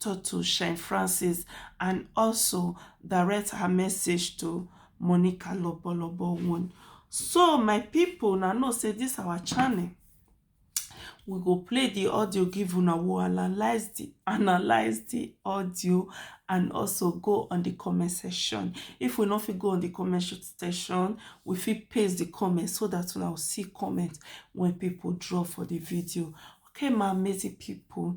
Toto Shine Francis and also direct her message to Monica Lobolobo one. So my people now know say this our channel. We go play the audio, give una we analyze the analyze the audio and also go on the comment section. If we not fit go on the comment section, we fit paste the comment so that we will see comment when people draw for the video. Okay, my amazing people.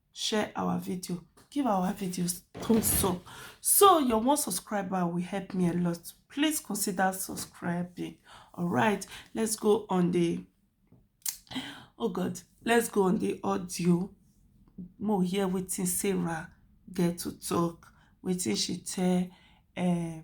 share our video give our videos thumbs up so your one subscriber will help me a lot please consider subscribing all right let's go on the oh god let's go on the audio more here waiting sarah get to talk waiting she tell um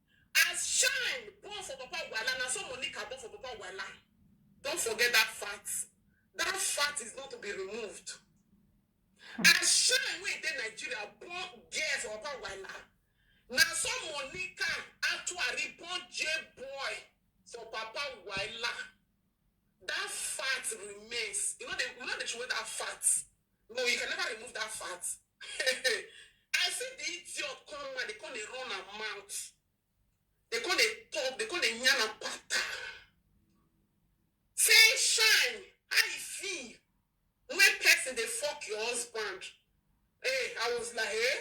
As shine born for papa Wala na so Monica born for papa Wala. Don't forget that fact. That fact is not to be removed. As shine wey dey Nigeria born girl for papa Wala na so Monica Atuari born J boy for papa Wala. That fact remains. You know they, you know they show that fact. No, you can never remove that fat. I see the idiot come and they come they run her mouth. They come they talk, they come they yarn and pata. Say shine, how you feel? When person they fuck your husband. Hey, I was like, eh?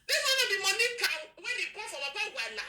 This one of the money can when they come for Baba Wala.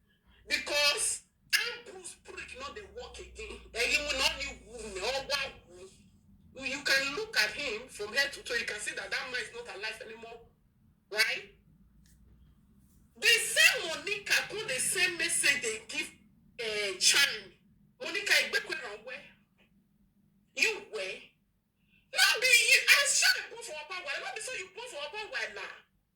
because Andrew spirit no dey work again. Ẹ̀yin mu náà ni wù ní ọwọ́ àwù. You can look at him from head to toe, you can see that that man is not alive anymore, right? The same Monica come the same message they give uh, Chan. Monica, you better run where? You where? No be you. I shall go for a power. No be so you go for a power now.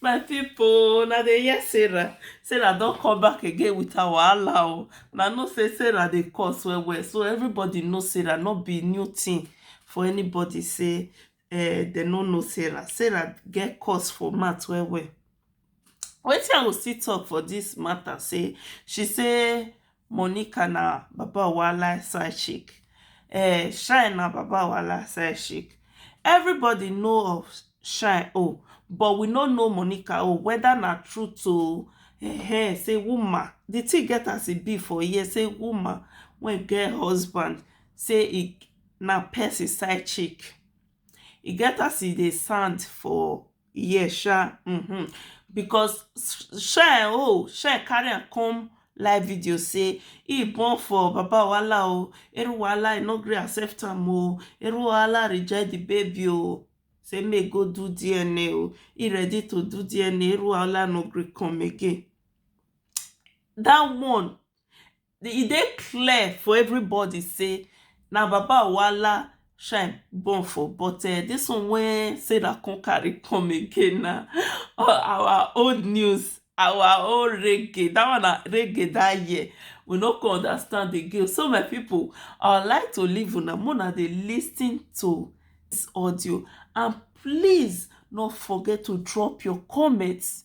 My people, na dey hear Sarah. Sarah don come back again with her wahala o. Na know say Sarah dey curse well well. So everybody know Sarah. No be new thing for anybody say eh, dem no know Sarah. Sarah get curse for mouth well well. Wetin I go still talk for this matter say she say Monica na baba owahala side chick um shine na baba owahala side chick everybody know of shine own but we no know Monica own whether na truth oh um say woman the thing get as e be for here say woman wey get husband say e na person side chick e get as e dey sound for Yes, sha. Mm-hmm. Because Shine, oh, Shine carry am come live video say he born for Baba Wala oh, Eru Wala no gree accept am oh, Eru Wala reject the baby oh. Say make go do DNA oh. He ready to do DNA, Eru Wala no gree come again. That one e dey clear for everybody sey na baba wala shine born for but this one wey sarah come carry come again na our old news our own reggae that one na reggae that year we no come understand again so my people I would like to leave una make una dey lis ten to this audio and please no forget to drop your comments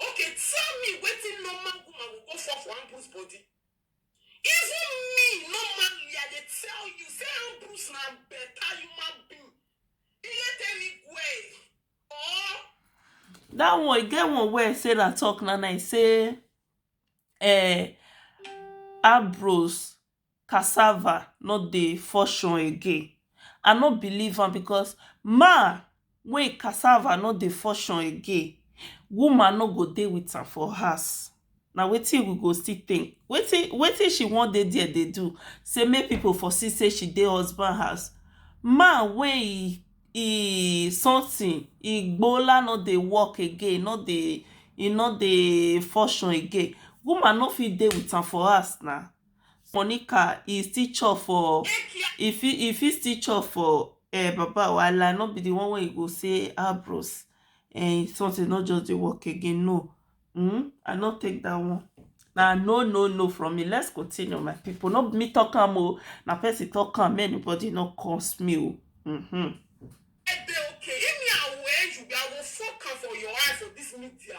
Okay tell me wetin normal woman go go fall for Ambrose body? Even me normally I dey tell you say Ambrose na better human being. Iletemi Gwe or That one, e get one wey Sarah talk na na e say eh, Ambrose cassava no dey function again I no believe am because man wey him cassava no dey function again woman no go dey with am for house na wetin we go still think wetin wetin she wan dey there dey do say make people for see say she dey husband house man wey him him something him igbola no dey work again no dey e no dey function again woman no fit dey with am for house na Monica e still chop for e fit e fit still chop for um baba wahala no be the one wey e go say ah bros um something no just dey work again no um I no take that one na no no no from me let's continue my people no be me talk am o na person talk am make anybody no curse me o um. I dey okay if me I were you I go fuck am for your eye for this media.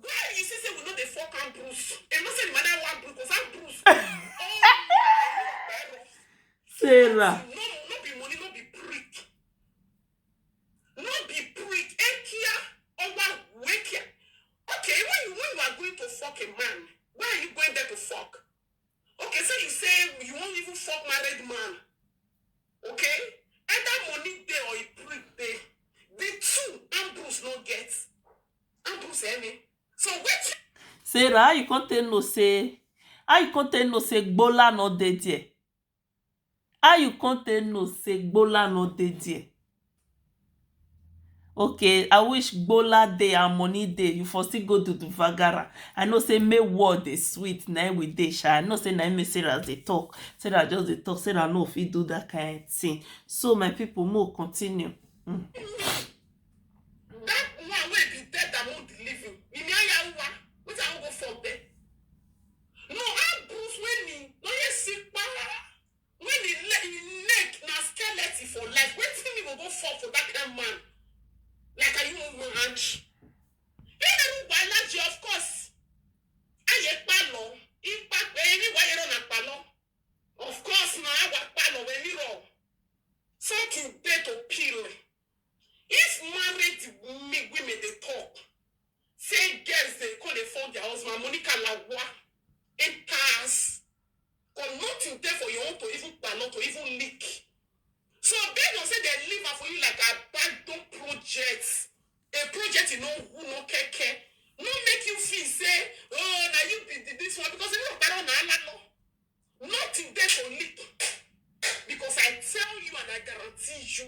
Where you see say we no dey fuck am Bruce. You know say the mother want Bruce, cause I'm Bruce. Oh, Sarah. No, no be money, no be prick. No be prick. Ekia, owa, wekia. Okay, when you, when you are going to fuck a man, where are you going there to fuck? Okay, so you say you won't even fuck married man. Okay? Either money there or a prick there. The two Ambrose no get. sarah how you come take know say how you come take know say gbola no dey there how you come take know say gbola no dey there okay i wish gbola dey and money dey you for still go do the vagara i know say make world dey sweet na im we dey sha i know say na im make sarah dey talk sarah just dey talk sarah no fit do that kind thing so my people make we continue That woman wey be dead and won't leave you. Mimi Ayahuwa, which I won't go for there. No, I bruise when he, no, you see, when he, he neck, na skeleton for life. When Timmy go go fall for that kind man, like a human hand. You know why not you, of course. I ye palo, in fact, any why you're on a palo. Of course, now I was palo when you roll. Something there to peel. If married me women dey talk say girls dey come dey fuck their husband, Monica lagua enter house cause nothing dey for your own to even kpalo to even lick. So based on say dem leave am for you like abandon project, a project e no who no keke, no make you feel say oh na you be the this one because irú ọ̀pá náà na á lá lọ. Nothing dey for leak because I tell you and I guarantee you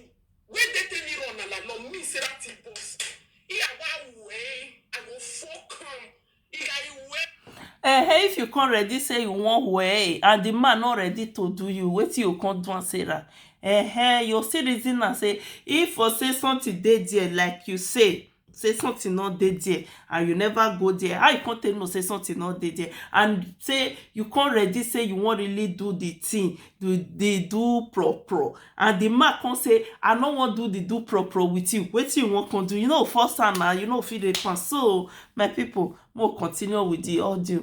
wey dey tell me run ala no mean say that thing burst. Iya wa wu eh, I go fuck am. Iya iwu eh. Ehen, if you come ready say you wan wee and the man no ready to do you, wetin you come do am Sarah? Ehen, you still reason am say if for say something dey there like you say, sey something no dey there and you never go there how you come take know sey something no dey there and sey you come ready sey you wan really do the thing the the do pro pro and the man come sey i no wan do the do pro pro with you wetin you wan come do you no go force am na you no go fit rape am so my people make we continue with the audio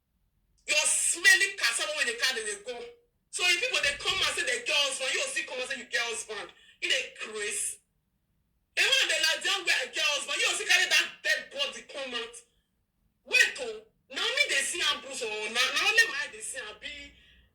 Your smelly cassava wey dey carry dey go. So if people dey come and say they get husband, you go still come and say you get husband. You dey craze. A man dey like down where I get husband, you go still carry that dead body come out. Wait oh, now me dey see am bruise or now, now only my eye dey see am be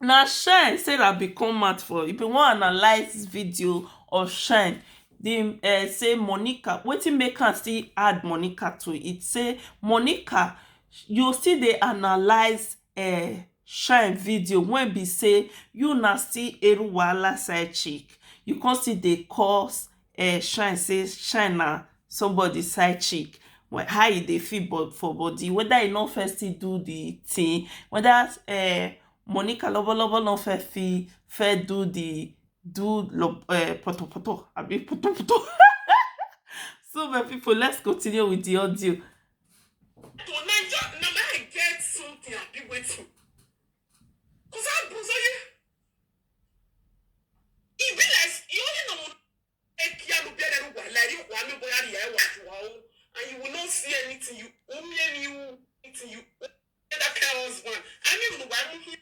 Na shine Sarah bin come out for e bin wan analyse video of shine dey um say Monica wetin make am still add Monica to it say Monica you still dey analyse um shine video wen be say you na still Eru wahala side chick you come still dey cause um shine say shine na somebody side chick how e dey feel for body weda e no first still do the thing weda um Monica lovo lovo no first fit first do the do um poto poto abi puto puto so my people let's continue with the audio. to naija na my get something abi wetin cause i buzz oye. E be like s- you only know ekialu bere ru wa lari wa mi boya ri e wa ju wa o and you will not see anything you o mi e mi u anything you o e da ke husband I mean mo wa mu hi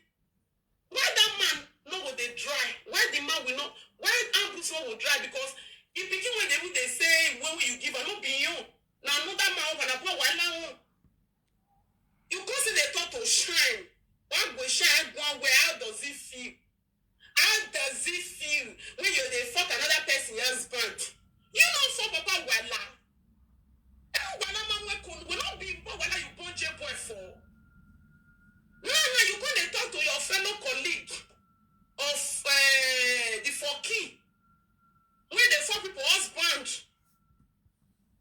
why that man no go dey dry why the man will not why ambrose no go dry because the pikin wey dey even dey say wey wey you give am no be him own na another man own na poor wahala own You go see the thought to shine. What go shine one way? How does it feel? How does it feel when you dey fuck another person husband? You know for Papa Wala. Eh, Wala mama kun will not be but Wala you born J boy for. No, no, you go dey talk to your fellow colleague of uh, the Foki. When they fuck people husband.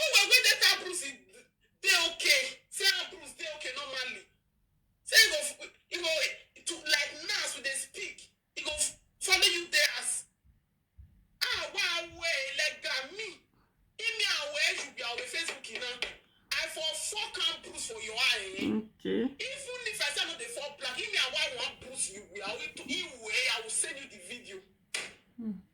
Oh, well, wait, that her bruise is they okay. Say her bruise they okay normally. Say you go, f- you go to like now so they speak. You go f- follow you there as ah wow way like that me. Give me away you be away Facebook you know. I for fuck and bruise for your eye. eh? Okay. Even if I say no dey fall black, give me away one bruise you be away to you way I will send you the video.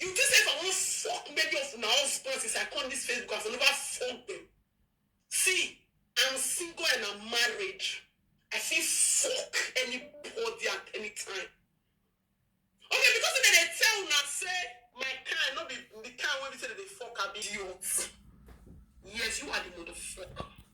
You think say if I wan fuck many of una husbands since I come this Facebook, I for never fuck them. See, I'm single and I'm married. I fit fuck anybody at any time. Okay, because if they tell una say my kind, not be the kind wey be say they dey fuck, I be idiot. Yes, you are the motherfucker.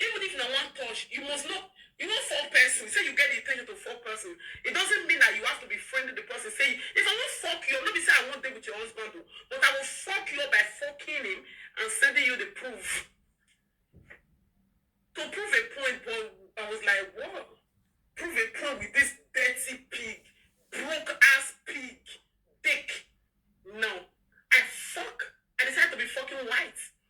Even if na one touch, you must know you wan fuck person, say you get the intention to fuck person. It doesn't mean that you have to be friend with the person. Say if I wan fuck you, no be say I wan dey with your husband o, but I will fuck you by fucking him and sending you the proof to prove a point. But I was like, what? Prove a point with this dirty pig, broke ass pig, dick. No, I fuck. I decided to be fucking white.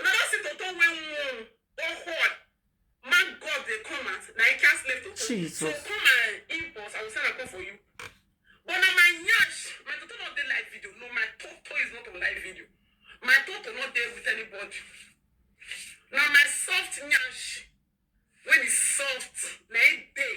Una don see Toto wey wound or hot man God dey come at na e cast left Toto. Jesus. So call my inbox, I will send a call for you. But na my nyash, my Toto not dey live video. No, my Toto is not on live video. My Toto not there with anybody. Now my soft nyash, when it's soft, na e dey.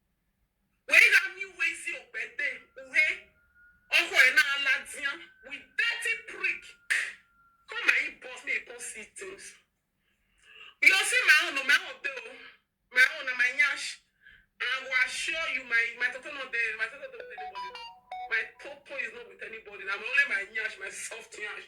Wee gha mi uwe ezi okpete, uhe ọhọ ena ala dia with dirty prick. Come my inbox make you come see things. You'll see my own, oh, my own dey o. My own na my nyash. And I go assure you, my my toto no dey, my toto dey with anybody. My toto is not with anybody. Na only my nyash, my soft nyash.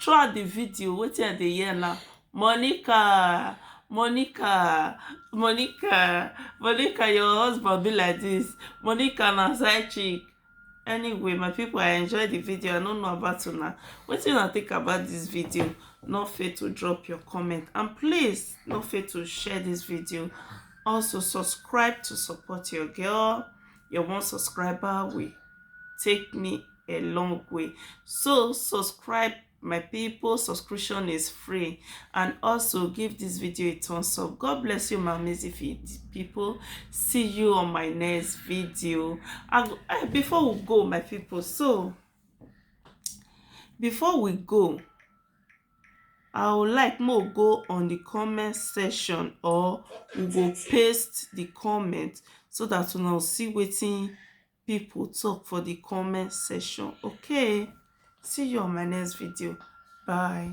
Throughout the video, wetin I dey hear na Monica, Monica, Monica, Monica, your husband be like this. Monica na side chick. Anyway, my people, I enjoy the video. I no know about una. Wetin una think about this video? No fail to drop your comment. And please, no fail to share this video. Also, subscribe to support your girl. your one subscriber will take me a long way so subscribe my people subscription is free and also give this video a thumbs up god bless you my amazing people see you on my next video and eh, before we go my people so before we go I would like make we go on the comment section or we go paste the comment so that una go see wetin people talk for the comment section okay see you on my next video bye